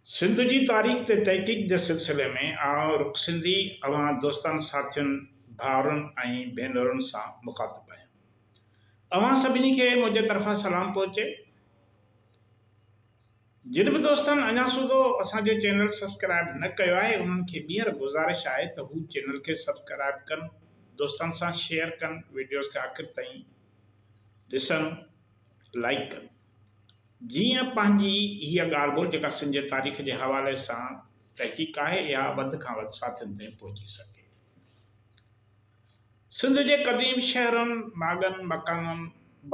سنڌ جي تاريخ تي تحقيق جي سلسلي ۾ آئون رخ سنڌي اوهان دوستن ساٿين ڀائرن ۽ ڀينرن سان مخاطب آهيان اوهان سڀني کي منهنجي طرفان سلام پهچي جن به دوستن اڃا سوڌو اسان جو چينل سبسڪرائب نه ڪيو آهي انهن کي ٻيهر گذارش آهي ته هو چينل کي سبسڪرائب ڪن دوستن سان شيئر ڪن وڊيوز کي آخر تائين ڏسن لائيڪ ڪن جيئن پنهنجي هيء ڳالهه به جيڪا سنڌ جي تاريخ جي حوالي سان تحقيق آهي اها وڌ کان وڌ ساٿين تائين پهچي سگهي. سنڌ جي قديم شهرن، ماڳن، مڪانن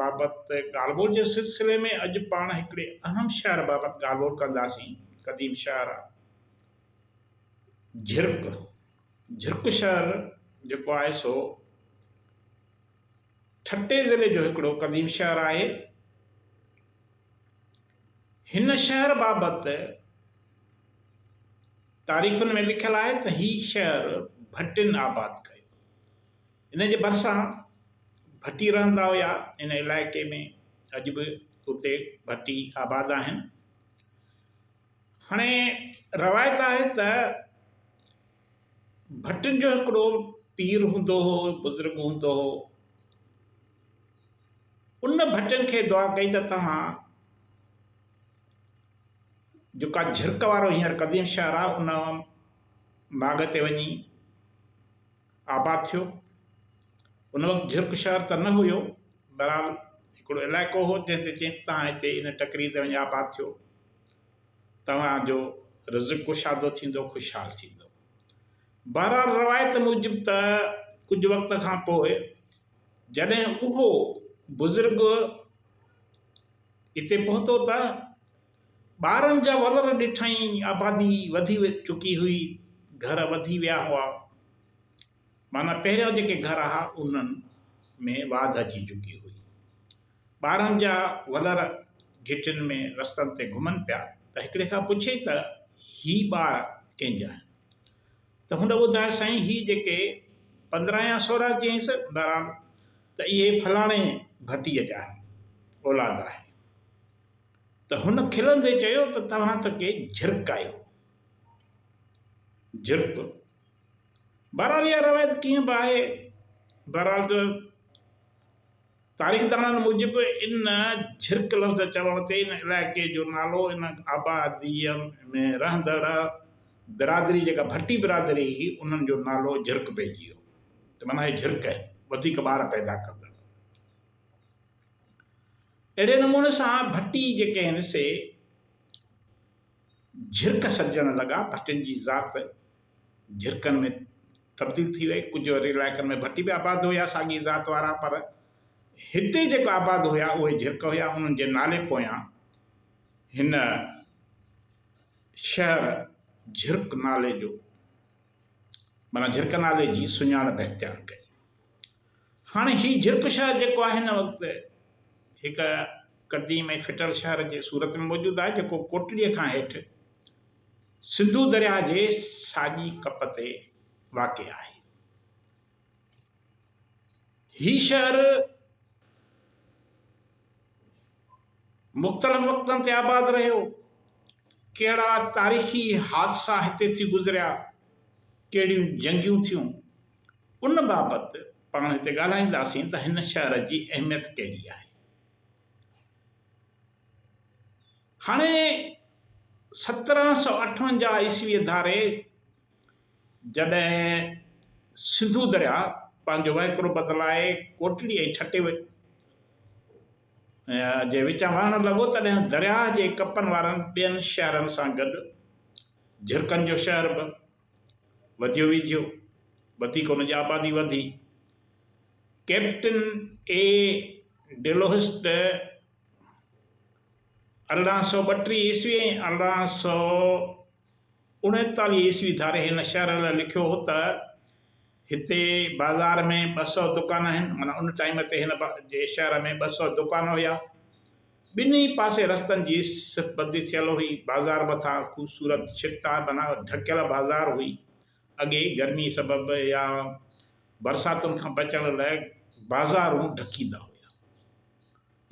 بابت ڳالهه ٻولهه جي سلسلي ۾ اڄ پاڻ هڪڙي اهم شهر بابت ڳالهه ٻولهه ڪنداسين، قديم شهر جهرڪ. جهرڪ شهر جيڪو آهي سو. ٺٽي ضلعي جو هڪڙو قديم شهر آهي. هن شهر بابت تاريخن ۾ لکيل آهي ته هي شهر ڀٽين آباد ڪيو. ان جي ڀرسان ڀٽي رهندا هيا. ان علائقي ۾ اڄ به اتي ڀٽي آباد آهن. هاڻي روايت آهي ته ڀٽن جو هڪڙو پير هوندو هو بزرگ هوندو هو ان ڀٽن کي دعا ڪئي ته توهان جيڪا جھرڪ وارو هينئر قديم شهر آهي ان ماڳ تي وڃي آباد ٿيو ان وقت جھرڪ شهر ته نه هيو بهرحال هڪڙو علائقو هو جنهن تي چيائين ته توهان هتي ان ٽڪري تي وڃي آباد ٿيو توهان جو رزق ڪشادو ٿيندو، خوشحال ٿيندو. بهرحال روايت موجب ته ڪجهه وقت کان پوء جڏهن اهو بزرگ اتي پهتو ته ٻارن جا ولر ڏٺائين، آبادي وڌي چڪي هئي، گهر وڌي ويا هئا. معنيٰ پهريان جيڪي گهر آها انهن ۾ واڌ اچي چڪي هئي. ٻارن جا ولر گهٽين ۾ رستن تي گهمن پيا ته هڪڙي کان پڇيئي ته هي ٻار ڪنهن جا آهن؟ ته هن ٻڌايو سائين هي جيڪي پندرهن يا سورهن چيائينس بهرحال ته اهي فلاڻي ڀٽيء جا آهن، اولاد آهي. ته هن کلندي چيو ته توهان ته ڪي جهرڪ آهيو. جهرڪ! بهرحال اها روايت ڪيئن به آهي، بهرحال ته تاريخدانن موجب ان جھرڪ لفظ چوڻ تي ان علائقي جو نالو ان آباديء ۾ رهندڙ برادري جيڪا ڀٽي برادري هئي انهن جو نالو جھرڪ پئجي ويو ته معنيٰ هي جھرڪ آهن وڌيڪ ٻار پيدا ڪندڙ اهڙي نموني سان ڀٽي جيڪي آهن سي جھرڪ سڏجڻ لڳا ڀٽين جي ذات جھرڪن ۾ تبديل ٿي وئي، ڪجهه وري علائقن ۾ ڀٽي به آباد هيا ساڳي ذات وارا پر هتي جيڪو آباد هيا اهي جھرڪ هيا انهن جي نالي پويان هن شهر جھرڪ نالي جو معنيٰ جھرڪ نالي جي سڃاڻپ اختيار ڪئي. هاڻي هي جھرڪ شهر جيڪو آهي هن وقت هڪ قديم ۽ ڦٽل شهر جي صورت ۾ موجود آهي جيڪو ڪوٽڙيء کان هيٺ سنڌو درياهه جي ساڄي ڪپ تي واقع آهي. هي شهر مختلف وقتن تي آباد رهيو، ڪهڙا تاريخي حادثا هتي ٿي گذريا، ڪهڙيون جنگيون ٿيون، ان بابت پاڻ هتي ڳالهائينداسين ته هن شهر جي اهميت ڪهڙي آهي. هاڻي سترهن سؤ اٺونجاهه عيسويء ڌاري جڏهن سنڌو درياء پنهنجو وهڪرو بدلائي ڪوٽڙي ۽ ٺٽي جي وچان وهڻ لڳو تڏهن درياء جي ڪپن وارن ٻين شهرن سان گڏ جهرڪن جو شهر به وڌيو ويجهيو وڌيڪ ان جي آبادي وڌي. ڪئپٽن اي ڊيلوهسٽ ارڙهن سؤ ٻٽيهه عيسوي ۽ ارڙهن سؤ اڻيتاليهه عيسوي ڌاري هن شهر لاء لکيو هو ته هتي بازار ۾ ٻه سؤ دڪان آهن، معنيٰ ان ٽائيم تي هن جي شهر ۾ ٻه سؤ دڪان هيا. ٻنهي پاسي رستن جي سٿبندي ٿيل هئي. بازار مٿان خوبصورت ڇتا بنان ڍڪيل بازار هئي. اڳي گرمي سبب يا برساتن کان بچڻ لاء بازارون ڍڪيندا هيا.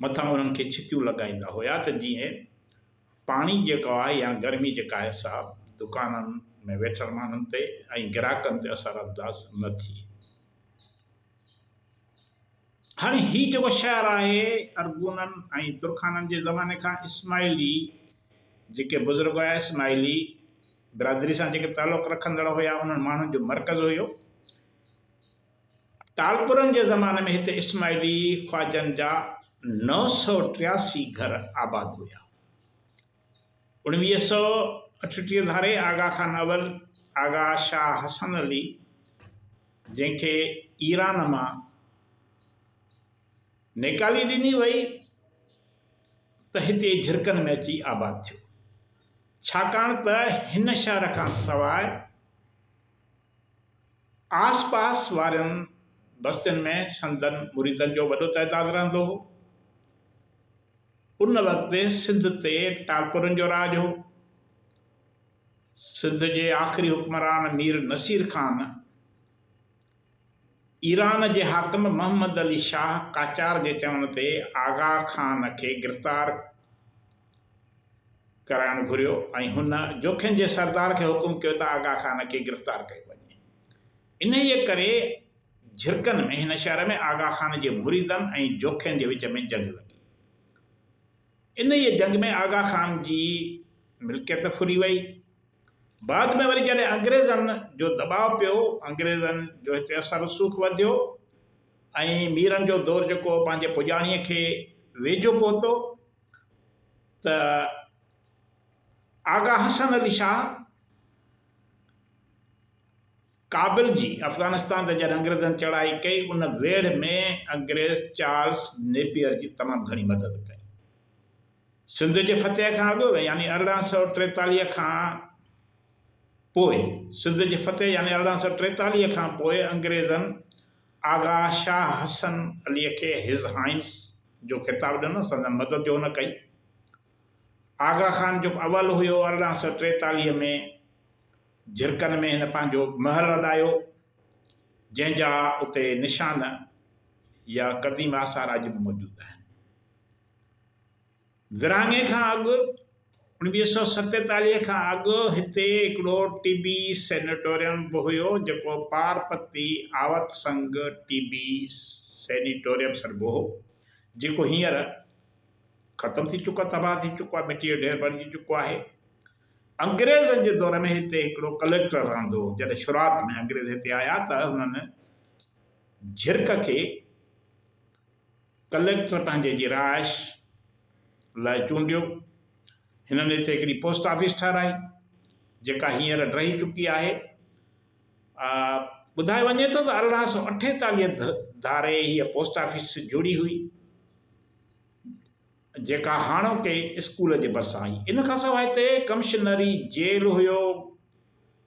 مٿان انهن کي ڇتيون لڳائيندا هيا ته جيئن پاڻي جيڪو آهي يا گرمي جيڪا آهي سا دڪانن ۾ ويٺل ماڻهن تي ۽ گراهڪن تي اثر انداز نه ٿئي. هاڻي هي جيڪو شهر آهي ارغونن ۽ ترخانن جي زماني کان اسماعيلي جيڪي بزرگ هيا اسماعيلي، برادري سان جيڪي تعلق رکندڙ هيا انهن ماڻهن جو مرڪز هيو. ٽالپرن جي زماني ۾ هتي اسماعيلي خواجن جا نو سؤ ٽياسي گهر آباد هيا. اوڻويهه سؤ اٺٽيهه ڌاري آغا خان اول آغا شاهه حسن علي جنهن کي ايران مان نيڪالي ڏني وئي ته هتي جھرڪن ۾ اچي آباد ٿيو، ڇاڪاڻ ته هن شهر کان سواء آس پاس وارين بستين ۾ سندن مريدن جو وڏو تعداد رهندو هو. ان وقت سنڌ تي ٽالپرن جو راڄ هو. سنڌ جي آخري حڪمران مير نصير خان ايران جي حاڪم محمد علي شاهه قاچار جي چوڻ تي آغا خان کي گرفتار ڪرائڻ گهريو ۽ هن جوکين جي سردار کي حڪم ڪيو ته آغا خان کي گرفتار ڪيو وڃي. انهيء ڪري جهرڪن ۾ هن شهر ۾ آغا خان جي مريدن ۽ جوکين جي وچ ۾ جنگ لڳي. انهيء جنگ ۾ آغا خان جي ملڪيت ڦري وئي. بعد ۾ وري جڏهن انگريزن جو دٻاء پيو، انگريزن جو هتي اثر رسوخ وڌيو ۽ ميرن جو دور جيڪو پنهنجي پڄاڻيء کي ويجهو پهتو ته آغا حسن علي شاهه، ڪابل جي افغانستان تي جڏهن انگريزن چڙهائي ڪئي، ان ويڙهه ۾ انگريز چارلس نيپيئر جي تمام گهڻي مدد ڪئي. سنڌ جي فتح کان اڳ يعني ارڙهن سؤ ٽيتاليهه کان پوء سنڌ جي فتح يعني ارڙهن سؤ ٽيتاليهه کان پوء انگريزن آغا شاهه حسن عليء کي His Highness جو خطاب ڏنو، سندن مدد جو هن ڪئي. آغا خان جيڪو اول هيو ارڙهن سؤ ٽيتاليهه ۾ جھرڪن ۾ ھن پنھنجو محل اڏايو، جنھن جا اتي نشان يا قديم آثار اڄ به موجود آھن. ورھاڱي کان اڳ، اوڻويھه سؤ ستيتاليھ کان اڳ، ھتي ھڪڙو ٽي بي سينيٽوريم به ھيو، جيڪو پارپتي آوت سنگ ٽي بي سينيٽوريم سڏبو ھو، جيڪو ھينئر ختم ٿي چڪو، تباھ ٿي چڪو آھي، مٽيء جو ڍير بڻجي چڪو آھي. انگريزن جي دور ۾ هتي هڪڙو ڪليڪٽر رهندو هو. جڏهن شروعات ۾ انگريز هتي آيا ته هنن جهرڪ کي ڪليڪٽر پنهنجي جي رهائش لاء چونڊيو. هنن هتي هڪڙي پوسٽ آفيس ٺهرائي، جيڪا هينئر ڊهي چڪي آهي. ٻڌايو وڃي ٿو ته ارڙهن سؤ اٺيتاليهه ڌاري هيء پوسٽ آفيس جوڙي هئي. جيڪا هاڻوڪي اسڪول جي ڀرسان هئي. ان کان سواء هتي ڪمشنري، جيل هيو،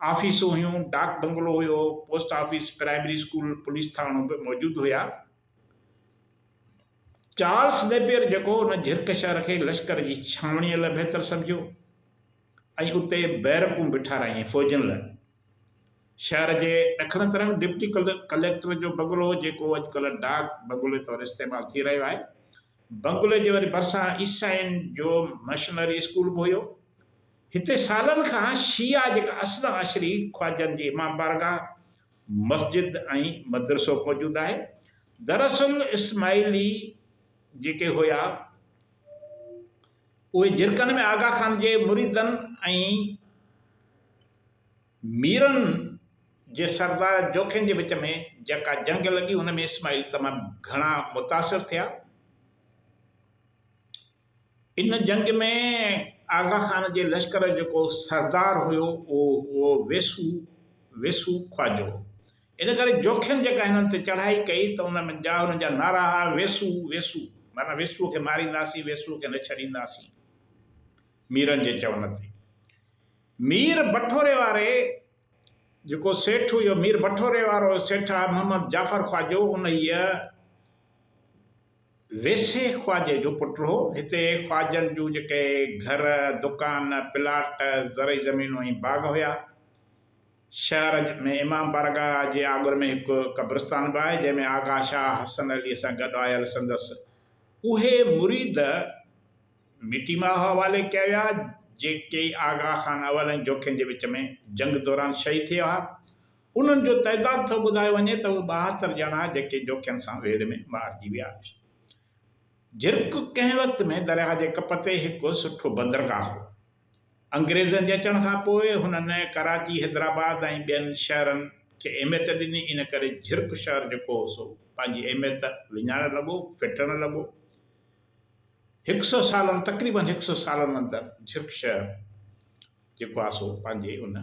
آفيسون هيون، ڊاڪ بنگلو هيو، post office, primary school, police ٿاڻو به موجود هيا. چارلس نيپيئر جيڪو ان جهرڪ شهر کي لشڪر جي ڇانوڻيء لاء بهتر سمجهيو ۽ اتي بيرڪون به ٺهرايائين فوجين لاء. شهر جي ڏکڻ طرف ڊپٽي ڪليڪٽر جو بنگلو جيڪو اڄڪلهه ڊاڪ بنگلي طور استعمال ٿي رهيو آهي، بنگلي جي وري ڀرسان عيسائين جو مشنري اسڪول به هيو. هتي سالن کان شيعا جيڪا اصل عشري خواجن جي امام بارگاهه، مسجد ۽ مدرسو موجود آهي. دراصل اسماعيلي جيڪي هيا اهي جرڪن ۾ آغا خان جي مريدن ۽ ميرن جي سردار جوکين جي وچ ۾ جيڪا جنگ لڳي ان ۾ اسماعيل تمام گهڻا متاثر ٿيا. ان جنگ ۾ آغا خان جي لشڪر جو جيڪو سردار هيو اهو هو ويسو، Vesu، خواجو. ان ڪري جوکين جيڪا هنن تي چڙهائي ڪئي ته ان ۾ جا هنن جا نعرا هئا ويسو، Vesu، معنيٰ ويسوء کي مارينداسين، ويسوء کي نه ڇڏينداسين. ميرن جي چوڻ تي. مير بٺوري واري جيڪو سيٺ هيو، مير بٺوري وارو سيٺ محمد جعفر خواجو انهيء ويسي خواجي جو پٽ هو. هتي خواجن جون جيڪي گهر، دڪان، پلاٽ، زرعي زمينون ۽ باغ هيا. شهر ۾ امام بارگاهه جي آڳر ۾ هڪ قبرستان به آهي، جنهن ۾ آغا شاهه حسن عليء سان گڏ آيل سندس اهي مريد، ميٽي ماء حوالي ڪيا ويا، جيڪي ئي آغا خان اول ۽ جوکين جي وچ ۾ جنگ دوران شهيد ٿي ويا، انهن جو تعداد ٿو ٻڌايو وڃي ته اهي ٻاهتر ڄڻا جيڪي جوکين سان ويڙهه ۾ مارجي ويا. جرڪ ڪنهن وقت ۾ درياهه جي ڪپ تي هڪ سٺو بندرگاهه هو. انگريزن جي اچڻ کان پوء هنن ڪراچي، حيدرآباد ۽ ٻين شهرن کي اهميت ڏني، ان ڪري جرڪ شهر جيڪو هو سو پنهنجي اهميت وڃائڻ لڳو، ڦٽڻ لڳو. هڪ سئو سالن تقريباً هڪ سئو سالن اندر جھرڪ شهر جيڪو آهي سو پنهنجي ان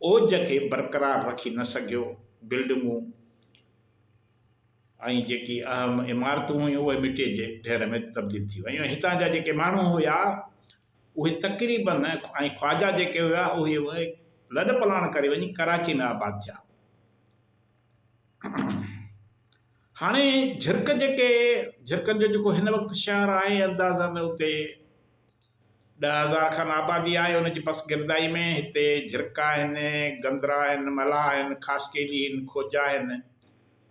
اوج کي برقرار رکي نه سگھيو، بلڊنگون ۽ جيڪي اهم عمارتون هيون اهي مٽي جي ڍير ۾ تبديل ٿي ويون ۽ هتان جا جيڪي ماڻهو هيا اهي تقريباً ۽ خواجا جيڪي هيا اهي لڏ پلاڻ ڪري وڃي ڪراچي ۾ آباد ٿيا. هاڻي جهرڪ جيڪي جهرڪن جو جيڪو هن وقت شهر آهي اندازن اتي ڏهه هزار کن آبادي آهي ان جي پس گردائي ۾ هتي جهرڪ آهن، گندرا آهن، ملاح آهن، خاصخيلي آهن، کوجا آهن،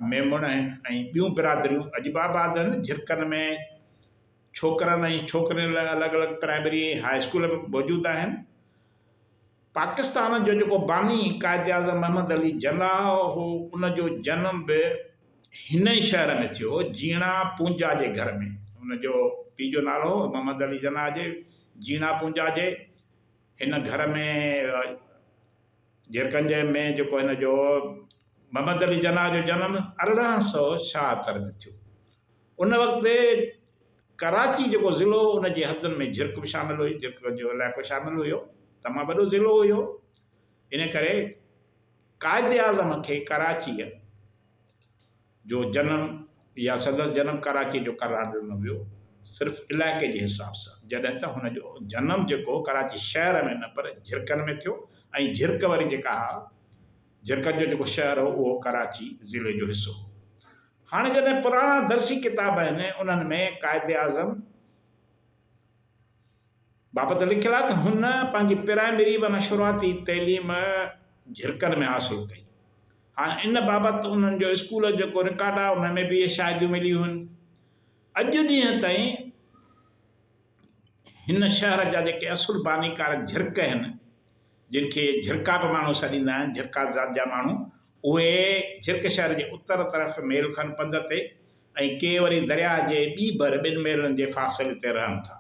ميمڻ آهن ۽ ٻيون برادريون اڄ به آباد آهن، جهرڪن ۾ ڇوڪرن ۽ ڇوڪرين لاء الڳ الڳ پرائمري ۽ هاء اسڪول به موجود آهن. پاڪستان جو جيڪو باني قائداعظم محمد علي جناح هو، ان جو جنم به هن ئي شهر ۾ ٿيو هو، جيڻا پونجا جي گهر ۾. هن جو پيء جو نالو هو محمد علي جناح جي جيڻا پونجا جي هن گهر ۾، جيرڪنج ۾ جيڪو هن جو محمد علي جناح جو جنم ارڙهن سؤ ڇاهتر ۾ ٿيو. ان وقت ڪراچي جيڪو ضلعو هو ان جي حدن ۾ جھرڪ به شامل هئي، جھرڪ جو علائقو شامل هيو، تمام وڏو ضلعو هيو، ان ڪري قائداعظم کي ڪراچيء جو جنم يا سندس جنم ڪراچيء جو قرار ڏنو ويو صرف علائقي جي حساب سان، جڏهن ته هن جو جنم جيڪو هو ڪراچي شهر ۾ نه پر جھرڪن ۾ ٿيو ۽ جھرڪ وري جيڪا اھا جھرڪن جو جيڪو شهر هو اهو ڪراچي ضلعي جو حصو هو. هاڻ جڏهن پراڻا درسي ڪتاب آهن انهن ۾ قائد اعظم بابت لکيل آهي ته هن پنهنجي پرائمري معنيٰ شروعاتي تعليم جهرڪن ۾ حاصل ڪئي. هاڻ ان بابت انهن جو اسڪول جيڪو رڪارڊ آهي ان ۾ به اهي شاهديون مليون هن. اڄ ڏينهن تائين هن شهر جا جيڪي اصل بانيڪار جهرڪ هن، جن کي جھرڪا به ماڻهو سڏيندا آهن، جھرڪا ذات جا ماڻهو، اهي جھرڪ شهر جي اتر طرف ميل کن پنڌ تي ۽ ڪي وري درياهه جي ٻي ڀر ٻن ميلن جي فاصلي تي رهن ٿا.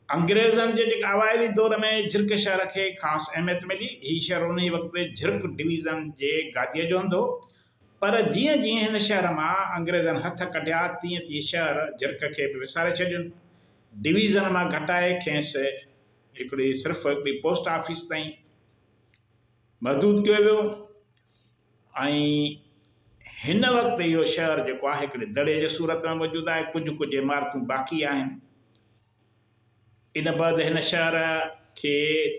انگريزن جي اوائلي دور ۾ جھرڪ شهر کي خاص اهميت ملي. هي شهر انهيء وقت جھرڪ ڊويزن جي گاديء جو هوندو هو، پر جيئن جيئن هن شهر مان انگريزن هٿ ڪڍيا، تيئن تيئن شهر جھرڪ کي به وساري ڇڏين. ڊويزن مان گھٽائي کيس هڪڙي صرف هڪڙي پوسٽ آفيس تائين محدود ڪيو ويو ۽ هن وقت اهو شهر جيڪو آهي هڪڙي دڙي جي صورت ۾ موجود آهي ڪجهه ڪجهه عمارتون باقي آهن ان بعد هن شهر کي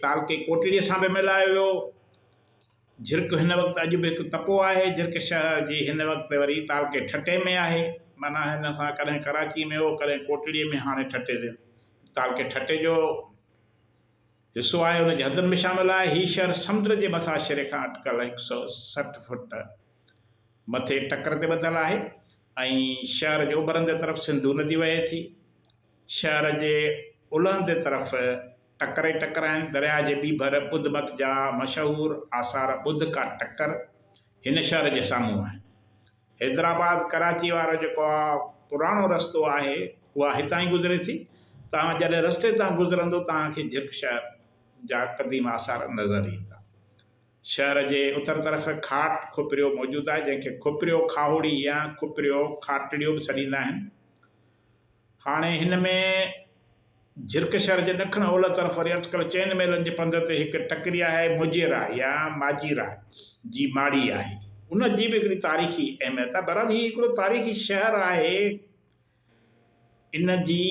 تعلقي ڪوٽڙي سان به ملايو ويو. جھرڪ ھن وقت اڄ به ھڪ تپو آھي. جھرڪ شھر جي ھن وقت وري تعلقي ٺٽي ۾ آھي. معنيٰ ھن سان ڪڏھن ڪراچي ۾ ھو ڪڏھن ڪوٽڙي ۾ ھاڻي ٺٽي ضلعي تعلقي ٺٽي جو حصو آھي ان جي حدن ۾ شامل آھي. ھي شھر سمنڊ جي مٿان شري کان اٽڪل ھڪ سئو سٺ فوٽ مٿي ٽڪر تي ٻڌل آھي ۽ شھر جي اوڀر اندر طرف سنڌو ندي وھي ٿي. شهر جي الهندي طرف ٽڪري ٽڪرائن درياء جي ٻي ڀر ٻڌ مت جا مشهور آثار ٻڌ ڪا ٽڪر هن شهر جي سامهون آهن. حيدرآباد ڪراچي وارو جيڪو اها پراڻو رستو آهي اها هتان ئي گذري ٿي. توهان جڏهن رستي تان گذرندو توهان کي جھرڪ شهر جا قديم آثار نظر ايندا. شهر جي اتر طرف کاٽ کوپريو موجود آهي جنهن کي کوپريو کاهوڙي يا کوپريو کاٽڙيو به سڏيندا آهن. هاڻي هن ۾ جھرڪ شھر جي ڏکڻ اولھه طرف وري اٽڪل چئن ميلن جي پنڌ تي هڪ ٽڪري آهي، موجيرا يا ماجيرا جي ماڙي آهي. ان جي به هڪڙي تاريخي اهميت آهي. بھرحال هي هڪڙو تاريخي شهر آهي. ان جي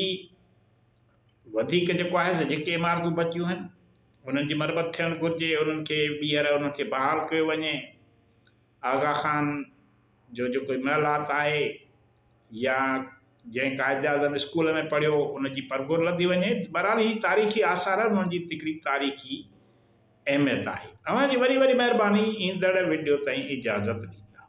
وڌيڪ جيڪو آهي سو جيڪي عمارتون بچيون آهن انهن جي مرمت ٿيڻ گهرجي، انهن کي ٻيهر انهن کي بحال ڪيو وڃي. آغا خان. جو جيڪو هن مهل حالت آهي يا جنهن قائد اعظم اسڪول ۾ پڙهيو ان جي پرگهور لڌي وڃي. بهرحال هي تاريخي آثار آهن انهن جي تڪڙي تاريخي اهميت آهي. اوهان جي وڏي وڏي مهرباني ايندڙ وڊيو تائين اجازت ڏيندا.